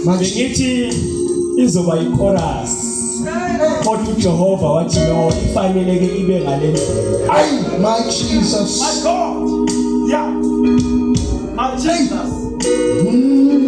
bengithi izoba ichorus kodwa uJehova wathi no ifanele ke ibe ngale ndlela ay my jesus my god yeah my jesus mm.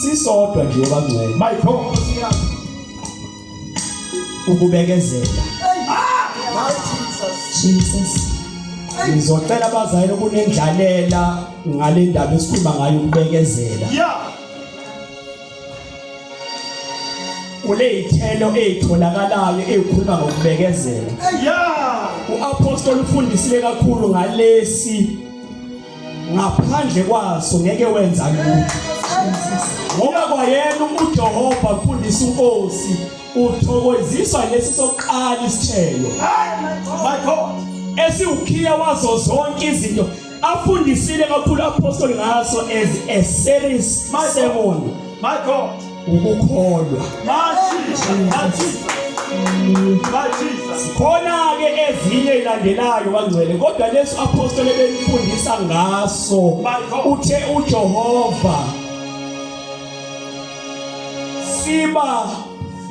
sisodwa nje bangcwele my god ukubekezela Jesus ngizocela abazali ukunendlalela ngale ndaba esikhuluma ngayo ukubekezela kuleyithelo ezitholakalayo ezikhuluma ngokubekezela uapostoli ufundisile kakhulu ngalesi ngaphandle kwaso ngeke wenza lutho ngoba kwayena uJehova mfundisi uNkosi uthokoziswa lesi sokuqala isithelo my god esiwukhiya wazo zonke izinto afundisile kakhulu apostoli ngaso as a series sermon my god ukukholwa khona-ke ezinye ilandelayo bangcwele kodwa lesi apostole benifundisa ngaso uthe ujehova siba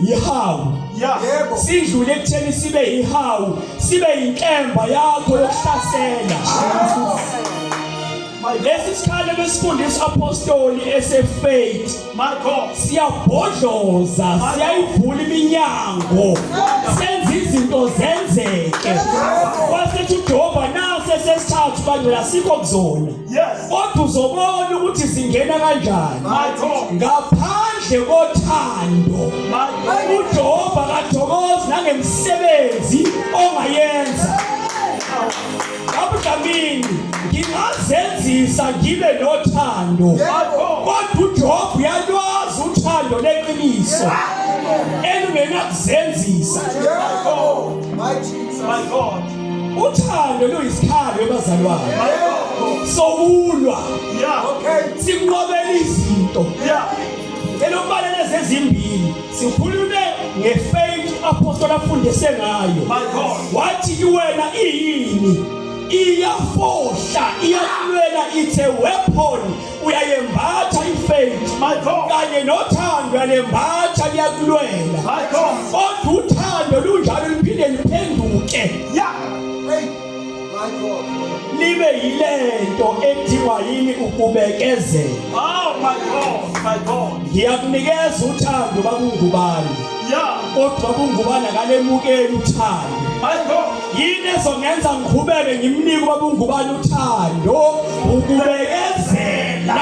yihawu yebo sidlule ekutheni sibe yihawu sibe yinkemba yakho yokuhlasela lesi sikhalo besifundisa apostoli esefaith My God. Siyabhodloza, siyayivula iminyango. Senza izinto zenzeke. Wasethi uJehova nase sesithathu bangcela sikho kuzona. Yes. Kodwa uzobona ukuthi zingena kanjani. My God. Ngaphandle kothando. My God. UJehova kathokozi nangemsebenzi ongayenza. Abudlamini ngingazenzisa ngibe nothando kodwa uJob uyalwazi uthando leqiniso elingenakuzenzisa my god uthando luyisikhalo ebazalwane sokulwa yeah okay sinqobela izinto yeah Ngicela ukubala lezi ezimbili. Sikhulume ngefaith apostle afundise ngayo. My God. Wathi kuwena iyini? Iyafohla, iyakulwela it's a weapon. Uyayembatha ifaith. My God. Kanye nothando uyayembatha kuyakulwela. My God. Kodwa uthando lunjalo liphinde liphenduke. Yeah. libe yilento ethiwa yini ukubekezela oh my god my god ngiyakunikeza uthando bakungubani yeah kodwa kungubana kalemukeli uthando my god yini ezongenza ngikhubeke ngimnike babungubani uthando ukubekezela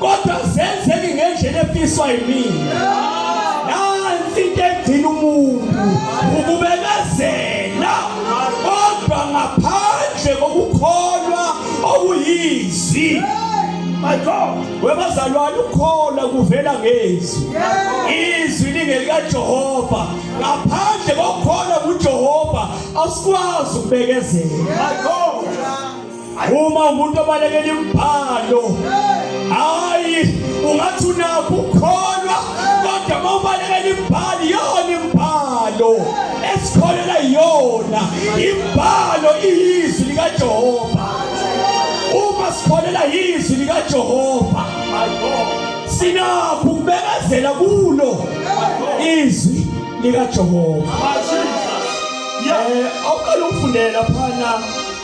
kodwa zenzeke ngendlela efiswa yimina nansi into egcina umuntu ukubekezela kodwa ngaphandle kokukholwa okuyizwi my god webazalwane ukholwa kuvela ngezwi izwi lingelikajehova ngaphandle kokukholwa kujehova asikwazi ukubekezela my god uma umuntu obalekela imibhalo hayi ungathi unakho ukukholwa kodwa uma ubalekela imibhalo iyona imibhalo esikholela yona imibhalo iyizwi likajehova uma sikholela yizwi likajehova sinakho ukubekezela kulo izwi likajehova um awuqala ukufundela phana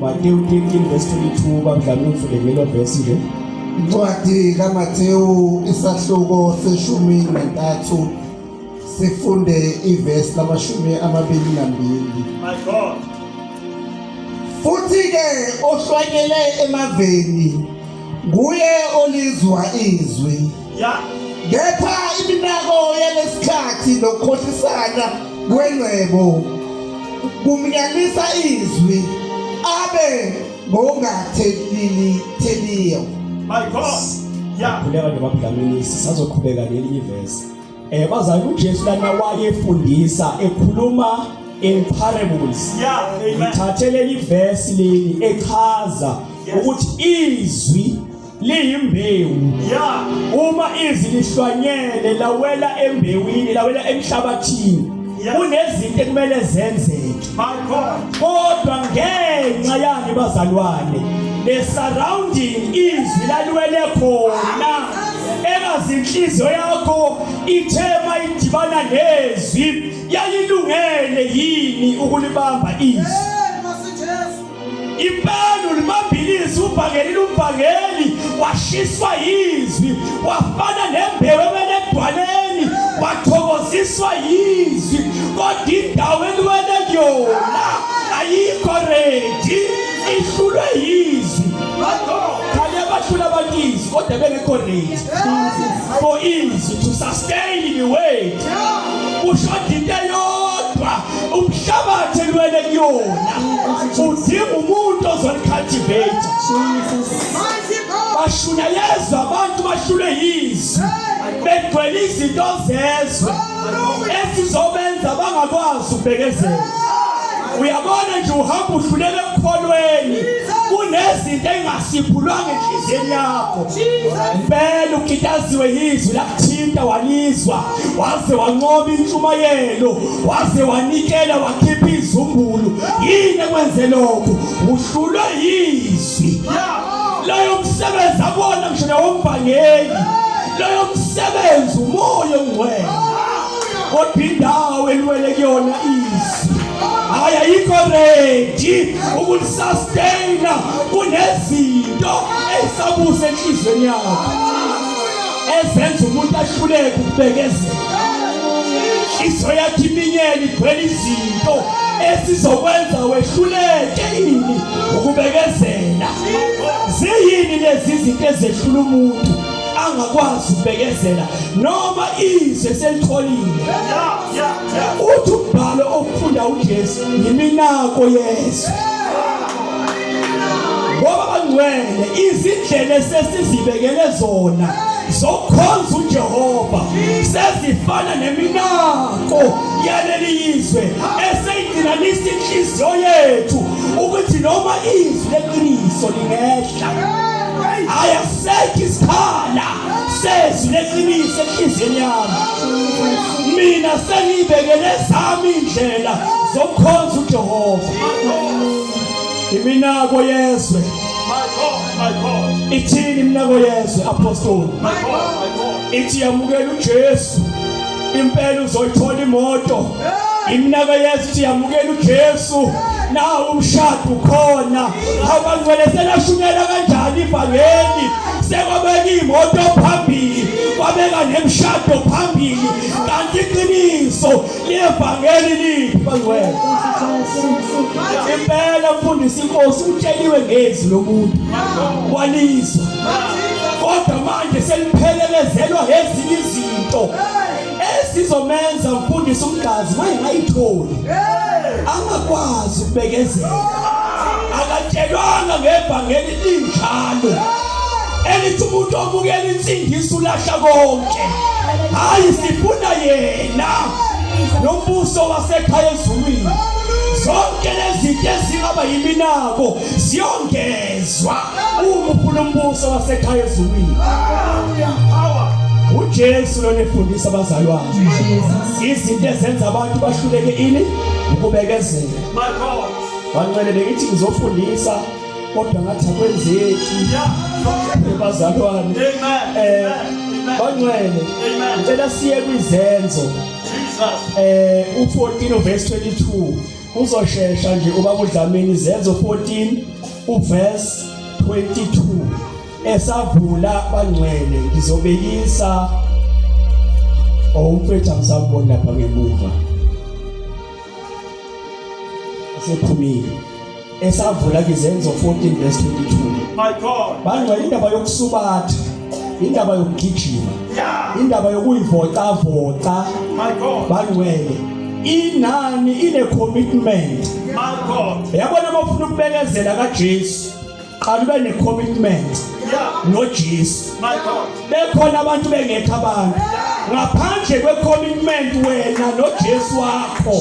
Matewu 13 verse 22 babudlala umfulekelo verse nje incwadi kaMathewu isahluko seshumi nantathu sifunde ivesi lamashumi amabili nambili my god futhi ke ohlwanyele emaveni nguye olizwa izwi Kepha iminako yalesikhathi nokukhohlisana kwengcebo kumnyalisa izwi abe ngongatheliyo. My God. Yeah. Kuleka nje babudlamini sisazoqhubeka nelinye ivesi. Eh bazali uJesu lana wayefundisa ekhuluma in parables. Yeah, amen. Ngithathe leli verse leli echaza ukuthi izwi liyimbewu ya uma izwi lihlwanyele lawela embewini lawela emhlabathini kunezinto ekumele zenzeke kodwa ngenxa yani bazalwane le surrounding izwi laliwele khona engazi inhliziyo yakho ithe mayidibana nezwi yayilungele yini ukulibamba izwi Impanu limambilisi ubhangeli lumbhangeli washiswa yizwi wafana nembewu emele edwaleni wathokoziswa yizwi kodwa indawo eliwele kuyona ayikho redi ihlulwe yizwi khale abahlula abantu izwi kodwa bengekho redi for izwi to sustain the way ushoda into eyodwa umhlabathi elwele kuyona udinga umuntu ozolicultivate bashunayezwa abantu bashule yizwi begcwele izinto zezwe esizobenza bangakwazi ukubekezela uyabona nje uhamba uhlulele ekukholweni kunezinto engasiphulwanga enhliziyeni yakho mpela ukitaziwe yizwi lakuthinta walizwa waze wanqoba intshumayelo waze wanikela wakhipha izumbulu yini ekwenze lokho uhlulwe yizwi loyo msebenzi akona ngisho nawomvangeli loyo msebenzi umoya ongcwele kodwa indawo eliwele kuyona izwi hayi ayikho ready ukulisustain kunezinto ezisabuse enhlizweni yakho ezenza umuntu ahluleke ukubekezela inhliziyo yakhe iminyeni igcwele izinto esizokwenza wehluleke yini ukubekezela ziyini lezi zinto ezehlula umuntu angakwazi ukubekezela noma izwe selitholile uthi umbhalo okufunda uJesu yiminako yezwe ngoba bangcwele izindlela esesizibekele zona zokukhonza uJehova sezifana neminako yaleli yizwe eseyidinanisa inhliziyo yethu ukuthi noma izwi leqiniso lingehla ayasekho isikhala sezwi leqiniso enhliziyweni yami mina sengiyibekele zami indlela zokukhonza uJehova iminako yezwe My God, my God. ithini iminako yezwe apostoli My God, my God. ithi yamukela uJesu impela uzoyithola imoto iminaka yethu ithi yamukela uJesu nawo umshado ukhona abantu vele selashumela kanjani ivangeli sekwabeka imoto phambili kwabeka nemshado phambili kanti iqiniso Liyevangeli liphi bangcwele? Impela mfundisi inkosi utsheliwe ngezwi lomuntu walizwa. Kodwa manje seliphelelezelwa ngezinye izinto esizomenza mfundisi umgazi mayingayitholi. Angakwazi ukubekezela. Akatshelwanga ngevangeli linjalo elithi umuntu omukela insindiso ulahla konke hayi sifuna yena nombuso wasekhaya ezulwini zonke lezinto ezingaba yiminako ziyongezwa uma ufuna umbuso wasekhaya ezulwini uJesu lona efundisa abazalwane izinto ezenza abantu bahluleke ini ukubekezela bancele bengithi ngizofundisa kodwa ngathi akwenzeki bazalwane eh bangcwele ngicela siye kwizenzo eh u14 verse 22 uzoshesha nje ubaba uDlamini izenzo 14 uverse 22 esavula bangcwele ngizobekisa owumfethu angisabona lapha ngemuva usephumile esavula izenzo 14 verse 22 my god bangcwele indaba yokusubatha indaba yokugijima indaba yokuyivocavoca my god bangcwele inani ine commitment my god yabona uma ufuna ukubekezela kaJesu qala ube ne-commitment nojesu bekhona abantu bengekho abantu ngaphandle kwe-commitment wena nojesu wakho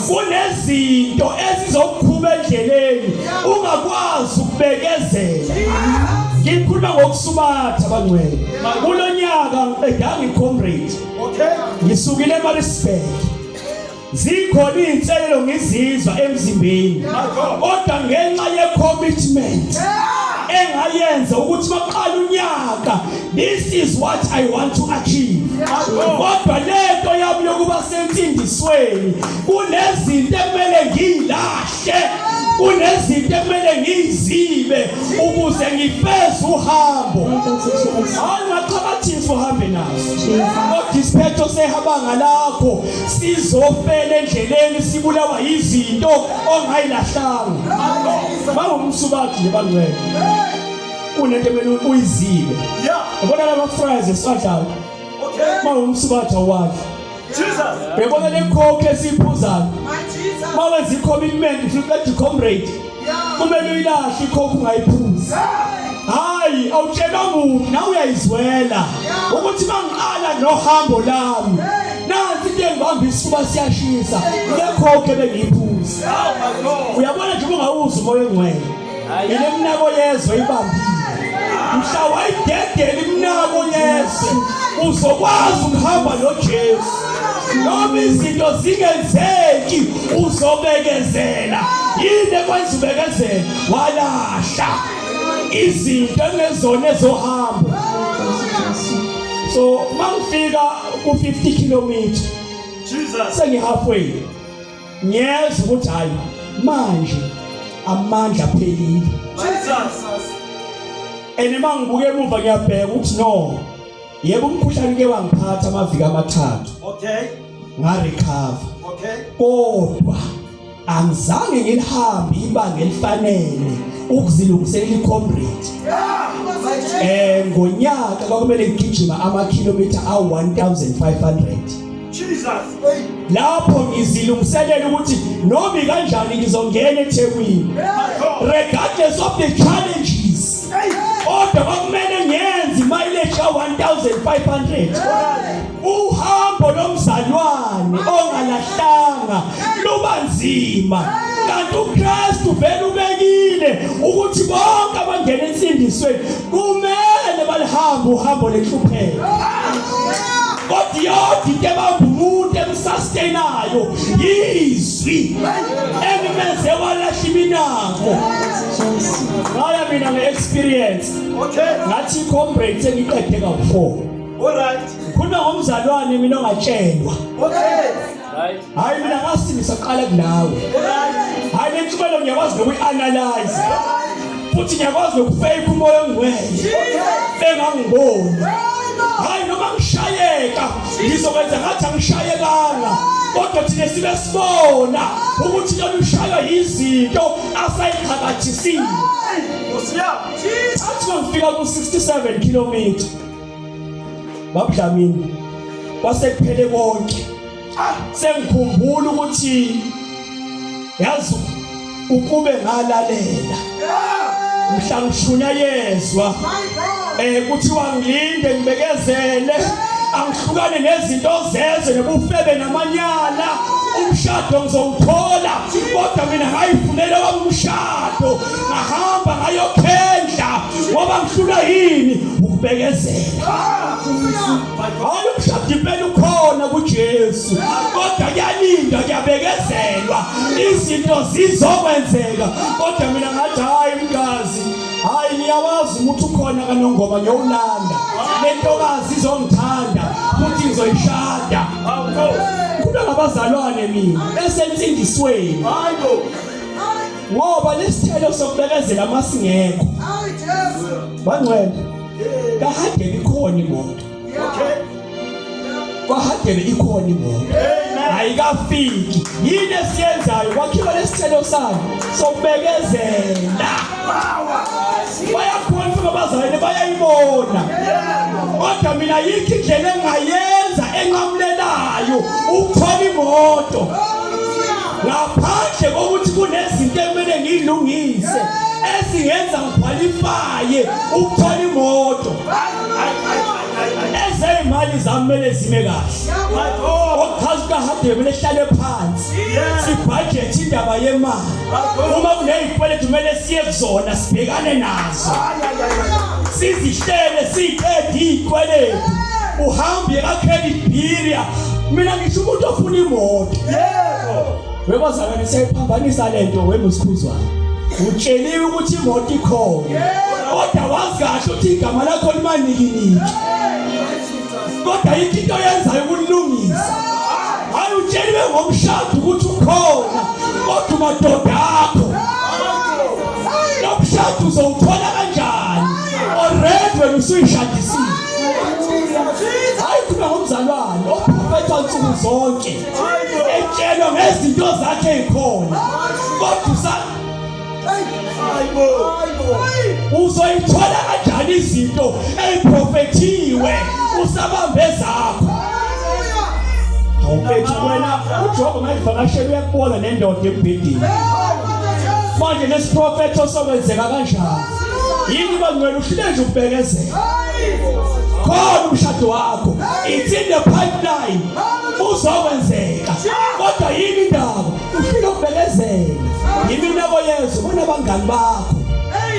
kunezinto ezizokukhuma endleleni ungakwazi ukubekezela ngikhuluma ngokusubatha bangcwele kulo nyaka ngiqedanga i-comrade ngisukile emarisburg zikhona izinselelo ngizizwa emzimbeni kodwa ngenxa ye commitment engayenza ukuthi maqala unyaka this is what i want to achieve kodwa lento yami yokuba sensindisweni kunezinto ekumele ngiyilahle kunezinto ekumele ngiyizibe ukuze ngifeze uhambo hayi ngaxhakathisa uhambe nazo kodwa isiphetho sehaba ngalakho sizofela endleleni sibulawa yizinto ongayilahlanga bawumsubathi nje bangcwele kunento emele uyizibe yabona lama fries esiwadlayo bawumsubathi awadla bebona lekhokhe esiyiphuzayo bawenza i-commitment futhi kade comrade kumele uyilahle ikhophu ungayiphuzi hayi awutshela muntu nawe uyayizwela ukuthi mangiqala nohambo lami nansi into engibamba isifuba siyashisa ngekhoke bengiyiphuzi uyabona nje ungawuzi umoya ongcwele yile mnako yezwe ibambile mhla wayidedela imnako yezwe uzokwazi ukuhamba nojesu noma izinto zingenzeki uzobekezela yini ekwenza ubekezele walahla izinto engezona ezohamba so mangifika ku 50 km Jesus sengi halfway ngiyeza ukuthi hayi manje amandla phelile Jesus and uma ngibuke emuva ngiyabheka ukuthi no yebo umkhuhlane ke wangiphatha amaviki amathathu okay ngarecover okay kodwa angizange ngilihambe ibanga elifanele ukuzilungiselela icomrade eh ngonyaka kwakumele ngigijima ama kilometer a 1500 Jesus lapho ngizilungiselela ukuthi noma kanjani ngizongena eThekwini regardless of the challenge kodwa kwakumele ngiyenze mileage ka 1500 uhambo lomzalwane ongalahlanga luba nzima kanti uKristu vele ubekile ukuthi bonke abangena ensindisweni kumele balihambe uhambo lenhlupheko kodwa yodwa into ebamba umuntu emsustainayo yizwi elimenze walahla iminako ngaya mina nge-experience ngathi i-combrate sengiqede kawu-four khona ngomzalwane mina ongatshelwa hhayi mina ngasindisa kuqala kunawe hhayi le ntsumelo ngiyakwazi nokuyi-analyze futhi ngiyakwazi nokufeyika umoya ongcwele engangiboni hhayi noma ngishayeka ngizokwenza ngathi angishayekanga kodwa thina sibe sibona ukuthi lolu shaywa yizinto asayixhakajisile athi nokufika ku-67 kilometer babudlamini kwasekuphele konke ah, sengikhumbula ukuthi yazi ukube ngalalela mhla ngishunyayezwa Eh kuthiwa ngilinde ngibekezele angihlukane nezinto zeze nobufebe namanyala umshado ngizowuthola kodwa mina ngayifunela wami umshado ngahamba ngayokhendla ngoba ngihlula yini ukubekezela hayi umshado impela ukhona kuJesu kodwa kuyalinda kuyabekezelwa izinto zizokwenzeka kodwa mina ngathi hayi mkazi hayi ngiyawazi ukuthi ukhona kanongoma ngiyowulanda lentokazi izongithanda futhi ngizoyishada kuba ngabazalwane mina esensindisweni ngoba lesithelo sokubekezela masingekho bangcwele kahade likhona imoto okay kwahagele ikhona imoto ayikafiki yini esiyenzayo kwakhiwa lesithelo sayo sokubekezela bayakhona futhi abazalwane bayayibona kodwa mina yikho indlela engayenza enqamulelayo ukuthola imoto ngaphandle kokuthi kunezinto ekumele ngiyilungise ezingenza ngikhwalifaye ukuthola imoto ezeyimali zami kumele zime kahle ochaza ukahadebe kumele sihlale phansi sibhajethi indaba yemali uma kunezikweletu kumele siye kuzona sibhekane nazo sizihlele siyiqede izikweletu uhambe ka-credit bureau mina ngisho umuntu ofuna imoto yebo Wekozakane siyayiphambanisa lento wemusikhuzwana. Utsheliwe ukuthi imoto ikhona. Kodwa wazi kahle ukuthi igama lakho limaniki niki. Kodwa yikho into yenzayo ukulungisa. Hayi utsheliwe ngomshado ukuthi ukhona. Kodwa umadoda akho. Lo mshado uzowuthola kanjani? Already wena usuyishadisile. Hayi khona ngomzalwane ophuphetha nsuku zonke. etshelwa ngezinto zakhe ezikhona kodwa usa uzoyithola kanjani izinto eziprofethiwe usabambe zakho awuphethu wena uJehova mayivakashela uyakubona nendoda embhedeni manje nesiprofetho sokwenzeka kanjani yini bangcwele uhlile nje ukubekezela khona umshado wakho it's in the pipeline uzokwenzeka kodwa yini indaba ufike ukubekezela yiminako yezwe kunabangani bakho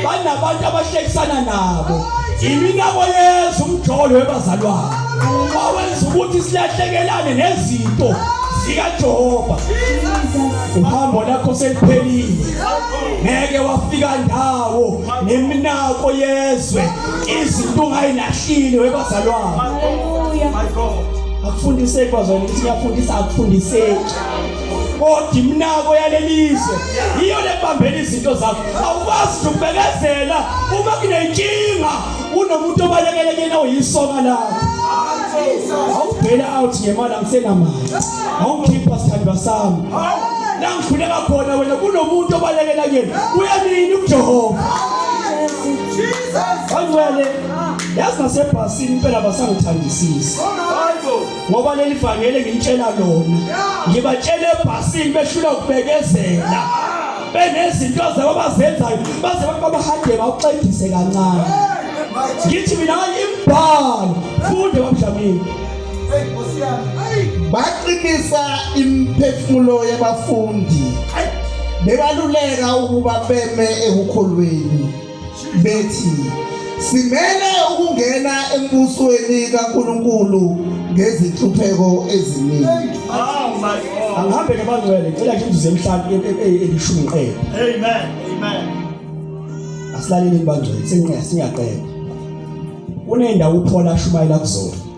banabantu abahlekisana nabo yiminako yezwe umjolo webazalwane wawenza ukuthi silahlekelane nezinto zikajehova uhambo lakho seliphelile ngeke wafika ndawo neminako yezwe izinto ungayilahlile webazalwane akufundiseki bazwane ukuthi ngiyafundisa akufundiseki kodwa imnako yalelizwe yiyo lebambela izinto zakho awukwazi ukubekezela uma kunenkinga unomuntu obalekele kuyena uyisoka lakho awubhela out ngemali angisenamali awungikhipha sithandwa sami la ngikhuleka khona wena kunomuntu obalekela kuyena uyanini ujehova Bangcwele yazi nasebhasini impela basangithandisisa ngoba leli vangele ngitshela lona ngibatshela ebhasini behlula ukubekezela benezinto zabo abazenzayo baze abantu babahade bawuxegise kancane ngithi mina imbhalo funde bamdlamini baqinisa imiphefumulo yabafundi bebaluleka ukuba beme ekukholweni bethi simele ukungena embusweni kaNkuluNkulu ngezinhlupheko eziningi oh my god angihambe nabangcwele ngicela nje imzuzu emhlanu e- e- e- elishumi qede amen amen asilaleleni bangcwele singqe singaqeda kunendawo uphola ashumayela kuzona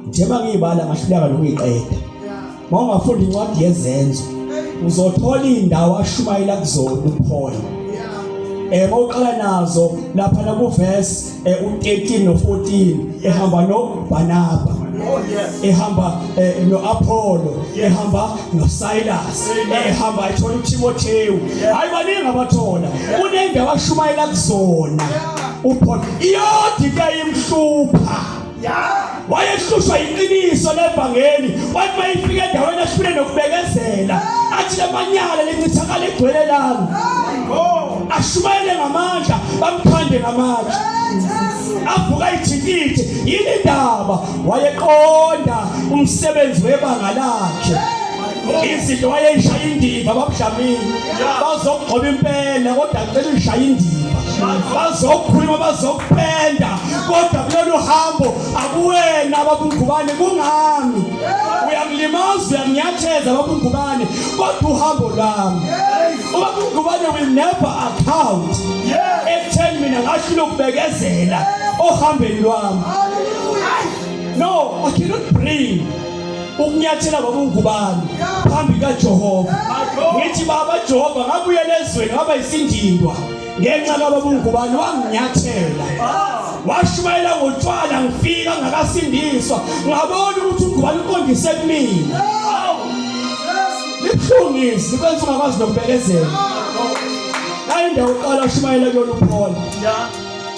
njengoba ngiyibala ngahluleka nokuyiqeda uma ungafunda incwadi yezenzo uzothola indawo ashumayela kuzona uphole eh mawuqala nazo lapha na ku verse eh, u13 no 14 ehamba no Barnaba Oh, ehamba eh, noApollo ehamba noSilas ehamba ethola uTimothewu hayi baningi abathola kunendawo ashumayela kuzona uPaul iyodika imhlupha wayehlushwa yiqiniso levangeli wathi uma ifika endaweni ahlule nokubekezela athi lamanyala lencithakala egcwele lami ashumayele ngamandla bamthande ngamatshe avuka ithikithi yini ndaba wayeqonda umsebenzi webanga lakhe izinto wayeyishaya indiva babudlamini bazokugcoba impela kodwa ngicela uyishaya indiva bazokhuluma bazokupenda kodwa kulolu hambo akuwena babungubane kungami uyangimazi uyanginyatheza babungubane kodwa uhambo lami ubabungubane will never account ekutheni mina ngasho lokubekezela ohambeni lwami no i cannot bring ukunyathela kwakungubani phambi kaJehova ngithi baba Jehova ngabuye lezweni ngaba isindindwa ngenxa kababungubani wanginyathela washumayela ngotshwala ngifika ngakasindiswa ngabona ukuthi ungubani uqondise kumina libuhlungisi kwenza ungakwazi nokubekezela ayindawo uqala ushumayela kuyona uphola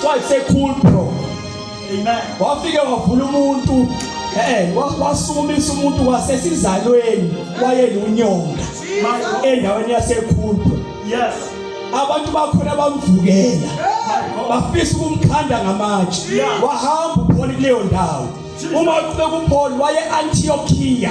kwayisekhulu bro Amen. Wafike wavula umuntu eh wasukumisa umuntu wasesizalweni wayelunyonga endaweni yasekhulpa. Yes. Abantu bakhona bamvukela. Bafisa ukumkhanda ngamatshe. Wahamba upholi kuleyo ndawo. Uma kube kupholi waye Antiochia.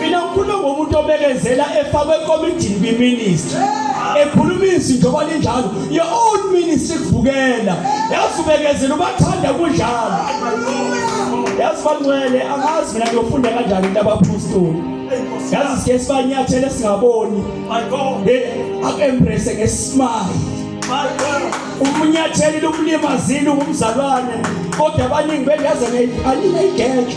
mina ngikhuluma ngomuntu obekezela efakwe ekomidini kwiministry ekhuluma izinto kwalinjalo your own ministry kuvukela yazi ubekezela ubathanda kunjalo yazi bancwele angazi mina ngiyofunda kanjani into abaphostoli yazi sike sibanyathele singaboni aku-embrace ngesimali umunyatheli lomlimazile ungumzalwane kodwa abaningi bengaze aninayigeja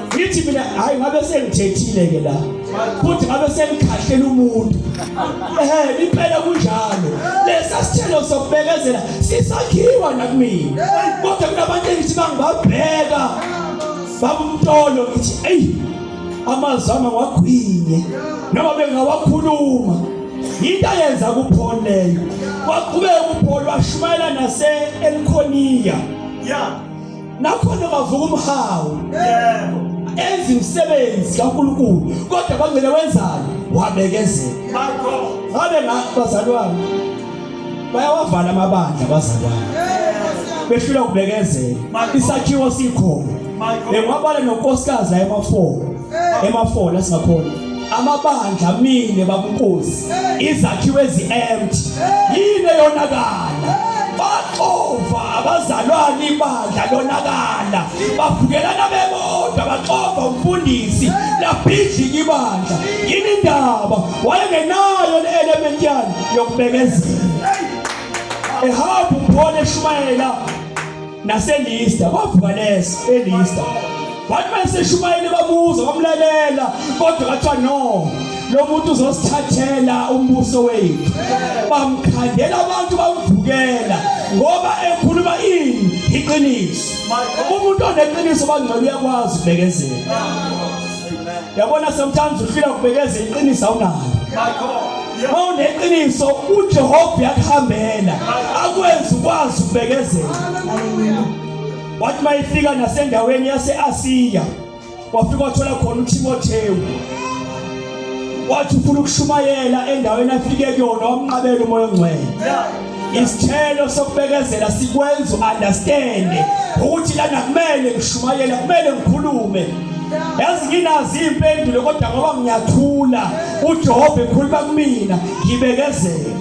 ngithi mina hayi ngabe sengithethile ke la futhi ngabe sengikhahlele umuntu ehe liphela kunjalo lesa sithelo sokubekezela sisakhiwa nakumina kodwa kunabantu engithi bangibabheka babumtolo ngithi eyi amazama ngwagwinye noma bengawakhuluma yinto ayenza kuphol leyo waqhubeka uphol washumayela nase-elkhoniya yeah. nakhona bavuka umhawu yebo enza imisebenzi kaNkulunkulu kodwa bangcele wenzani wabekezela bakho ngabe ngabazalwane bayawavala amabandla abazalwane behlula ukubekezela isakhiwo sikhona bengwabale nonkosikazi la emafola emafola singakhona amabandla amile babukuzi izakhiwe ezi-empty yini eyonakala baxova abazalwane ibandla lonakala bavukelana bebodwa baxova umfundisi labhidlika ibandla yini indaba wayengenayo le element yani yokubekezela ehamba uphone eshumayela naselista kwavuka lesa elista wathi mayeseshumayele babuza bamlalela kodwa kathiwa no lo muntu uzosithathela umbuso wethu bamkhandela abantu bamvukela ngoba ekhuluma ini iqiniso umuntu oneqiniso bangcwele uyakwazi ubekezela yabona sometimes ufila kubekeza iqiniso awunayo uma uneqiniso ujehova uyakuhambela akwenzi ukwazi ukubekezela wathi uma ifika nasendaweni yase-asiya wafika wathola khona utimothewu wathi ufuna ukushumayela endaweni afike kuyona wamnqabela umoya ongcwele Isithelo sokubekezela sikwenza uunderstand ukuthi lana kumele ngishumayele kumele ngikhulume yazi nginazi impendulo kodwa ngoba ngiyathula uJehova ekhuluma kumina ngibekezele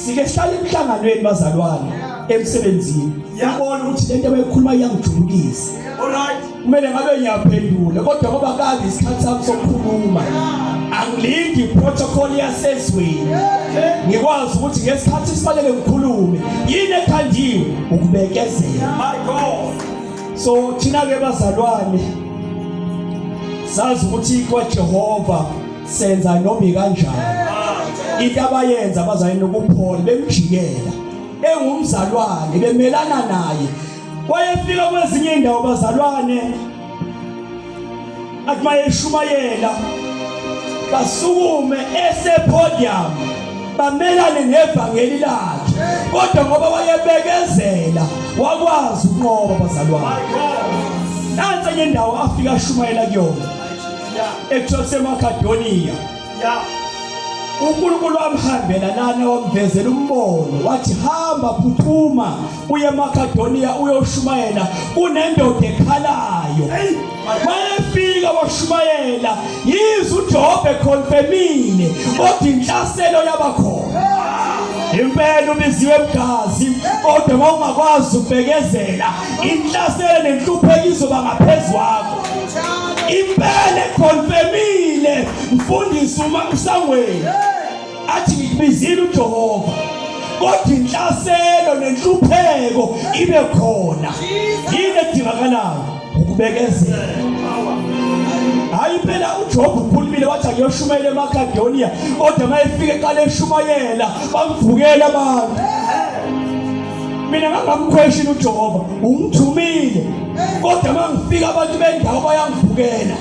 sike sihlale emhlanganweni bazalwane emsebenzini yabona ukuthi lento abayikhuluma iyangijulukisa alright kumele ngabe ngiyaphendula kodwa ngoba kade isikhathi sami sokukhuluma angilindi protocol yasezweni ngikwazi ukuthi ngesikhathi sifanele ngikhulume yini ekhandiwe ukubekezela my god so thina ke bazalwane sazi ukuthi kwaJehova senza noma kanjani into abayenza abazayini ukuphola bemjikela engumzalwane bemelana naye wayefika kwezinye indawo bazalwane athi mayeshumayela basukume esepodium bamelane nevangeli lakhe kodwa ngoba wayebekezela wakwazi ukunqoba bazalwane nansi enye indawo afika ashumayela kuyona ekuthiwa kusemakadoniya ya uNkulunkulu wamhambela lana wamvezela umbono wathi hamba phuthuma uye eMakedoniya uyoshumayela kunendoda ekhalayo wayefika washumayela yize uJobe ekhonfemile kodwa inhlaselo yabakhona impela ubiziwe mgazi kodwa mawungakwazi ubekezela inhlaselo nenhlupheko izoba ngaphezu kwakho impela ekhonfemile mfundisi uma usangweni athi ngikubizile uJehova kodwa inhlaselo nenhlupheko ibe khona yini edingakalayo ukubekezela hayi impela uJob ukhulumile wathi akuyoshumayela eMakedoniya kodwa mayefika eqale eshumayela bamvukela abantu mina ngangamkhweshini uJehova ungithumile kodwa uma ngifika abantu bendawo bayangivukela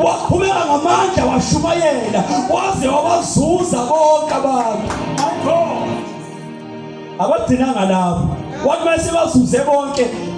waqhubeka ngamandla washumayela waze wabazuza bonke abantu abagcinanga lapho wathi uma sebazuze bonke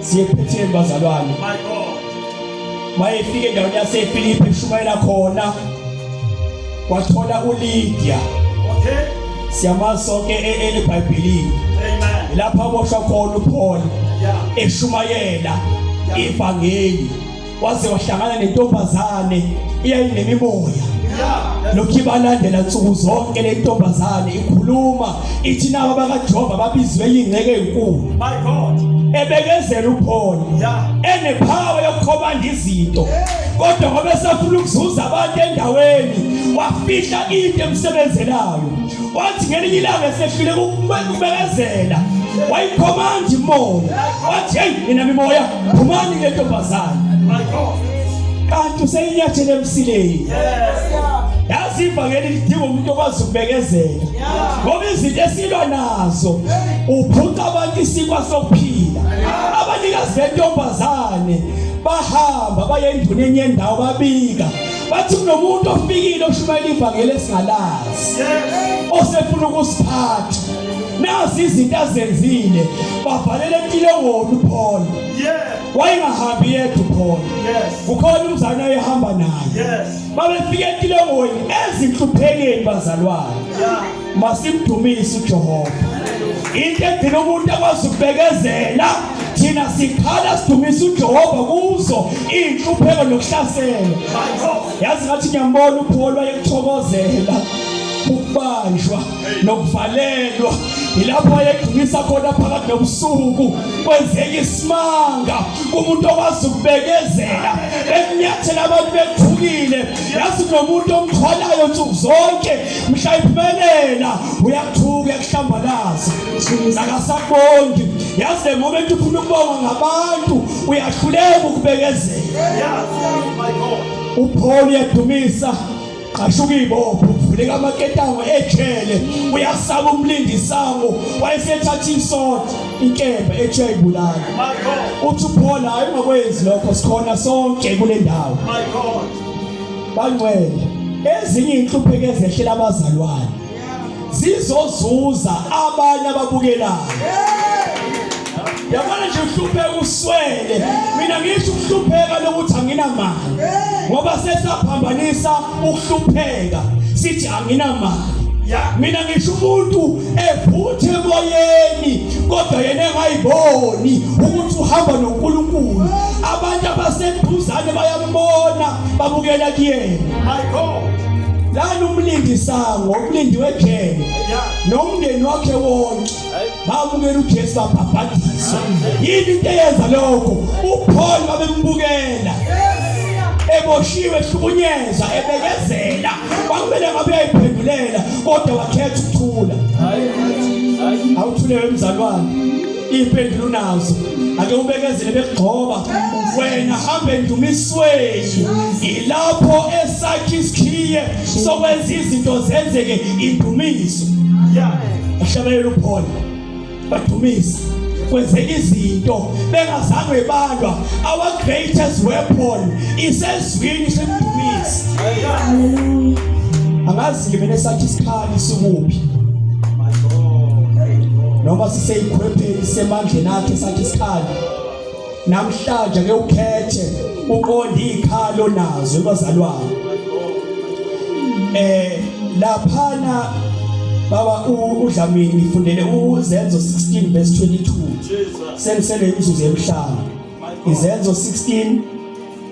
siyephethe bazalwane my god mayefike endaweni yaseFilipi eshumayela khona wathola uLidia okay siyamazi sonke eBhayibhelini e, amen lapha boshwa khona uPaul eshumayela ivangeli waze wahlangana nentombazane iyayinemimoya lokhu ibalandela nsuku zonke le ntombazane ikhuluma ithi nabo bakajehova babizwe yingceke enkulu ebekezela upholi enephawa yokukhobanda izinto kodwa ngoba esafuna ukuzuza abantu endaweni wafihla into emsebenzelayo wathi ngelinye ilanga esehluleka ukubekezela wayikhomanda imoya wathi heyi mina mimoya Phumani ke ntombazane. My God. Kanti useyinyathele emsileni. Yaziva ngeli lidinga umuntu okwazi ukubekezela. Ngoba izinto esilwa nazo uphuca abantu isikwa sokuphila. Abanikazi bentombazane bahamba baye enduneni yendawo babika bathi kunomuntu ofikile oshumayela ivangeli esingalazi osefuna ukusiphatha nazi izinto azenzile bavalele intilongoni uPaul wayengahambi yedwa uPaul kukhona umzana oyehamba naye babefika entilongweni ezinhluphekeni bazalwane masimdumise uJehova into edina umuntu akwazi ukubekezela thina sikhala sidumisa uJehova kuzo inhlupheko nokuhlasela yazi ngathi ngiyambona uPaul wayekuthokozela ukubanjwa nokuvalelwa yilapho ayegcumisa khona phakathi nobusuku kwenzeka isimanga kumuntu okwazi ukubekezela ekunyathela abantu bethukile yazi nomuntu omthwalayo nsuku zonke mhla iphumelela uyathuka uyakuhlambalaza akasabongi yazi the moment ufuna ukubonga ngabantu uyahluleka ukubekezela uPaul uyadumisa qashuka ibopho uvuleka amaketango ejele uyasaba umlindi isango wayesethatha isonto inkemba ethe ayibulala uthi uPaul hayi ungakwenzi lokho sikhona sonke kule ndawo my god bangcwele ezinye inhlupheko ezehlela abazalwane zizozuza abanye ababukelayo yabona nje uhlupheka uswele mina ngisho ukuhlupheka lokuthi anginamali ngoba sesaphambanisa ukuhlupheka sithi anginamali mina ngisho umuntu ephuthe emoyeni kodwa yena engayiboni ukuthi uhamba noNkulunkulu abantu abaseduzane baya bona babukela kuyena my god lani umlindi sango umlindi wejele nomndeni wakhe wonke babukela uJesu babhabhadisa yini into eyenza lokho uPaul babembukela eboshiwe ehlukunyeza ebekezela kwakumele ngabe uyayiphendulela kodwa wakhetha ukuthula awuthule wemzalwane impendulo unazo ake ubekezele bekugxoba wena hambe endumisweni yilapho esakhe isikhiye sokwenza izinto zenzeke indumiso ya uhlabelela uphole badumisa kwenzeka izinto bengazange balwa our greatest weapon isezwini semdumisi angazi ke mina sathi isikhathi isukuphi noma siseyikhwepheni semandleni akhe sathi isikhali namhlanje ke ukhethe uqonde ikhalo nazo bazalwane eh laphana baba udlamini ngifundele uzenzo 16 verse 22 senisele imizuzu emhlanu izenzo 16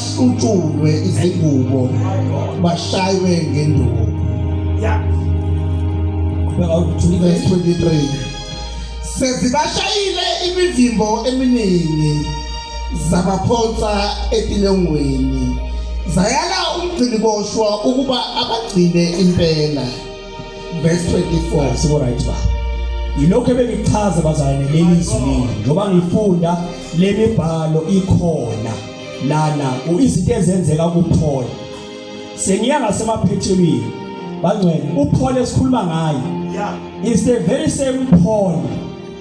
kushutshulwe izingubo bashaywe ngenduku verse 23 sezibashayile imivimbo eminingi zabaphonsa etilongweni zayala umgciniboshwa ukuba abagcine impela verse 24 sibo right ba yilokho ebengichaza bazalwane leli zwi njengoba ngifunda lemibhalo ikhona nana izinto ezenzeka kuphole sengiya ngasemaphethelweni bangcwele uphole esikhuluma ngayo is the very same Paul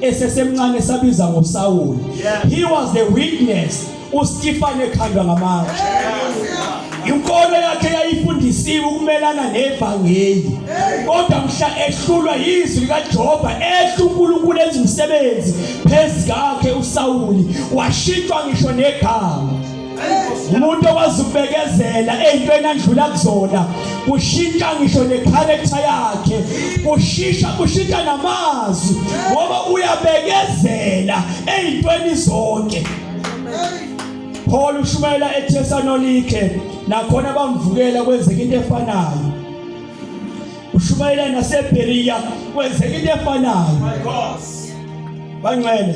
esesemncane sabiza ngoSawuli he was the witness uStefan ekhandwa ngamatshe Inkolo yakhe yayifundisiwe ukumelana nevangeli. Kodwa mhla ehlulwa yizwi likaJehova ehla uNkulunkulu enza umsebenzi phezu kakhe uSawuli washintshwa ngisho negama. umuntu okwazi ukubekezela eyintweni andlula kuzona kushintsha ngisho necharacter yakhe kushisha kushintsha namazwi ngoba uyabekezela eyintweni zonke Paul ushumayela eThesalonike nakhona bamvukela kwenzeka into efanayo ushumayela naseBeria kwenzeka into efanayo my god banxele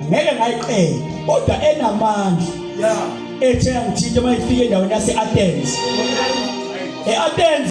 ngeke ngayiqela kodwa enamandla yeah ethe angithinta mayifike endaweni yase-Athens e-Athens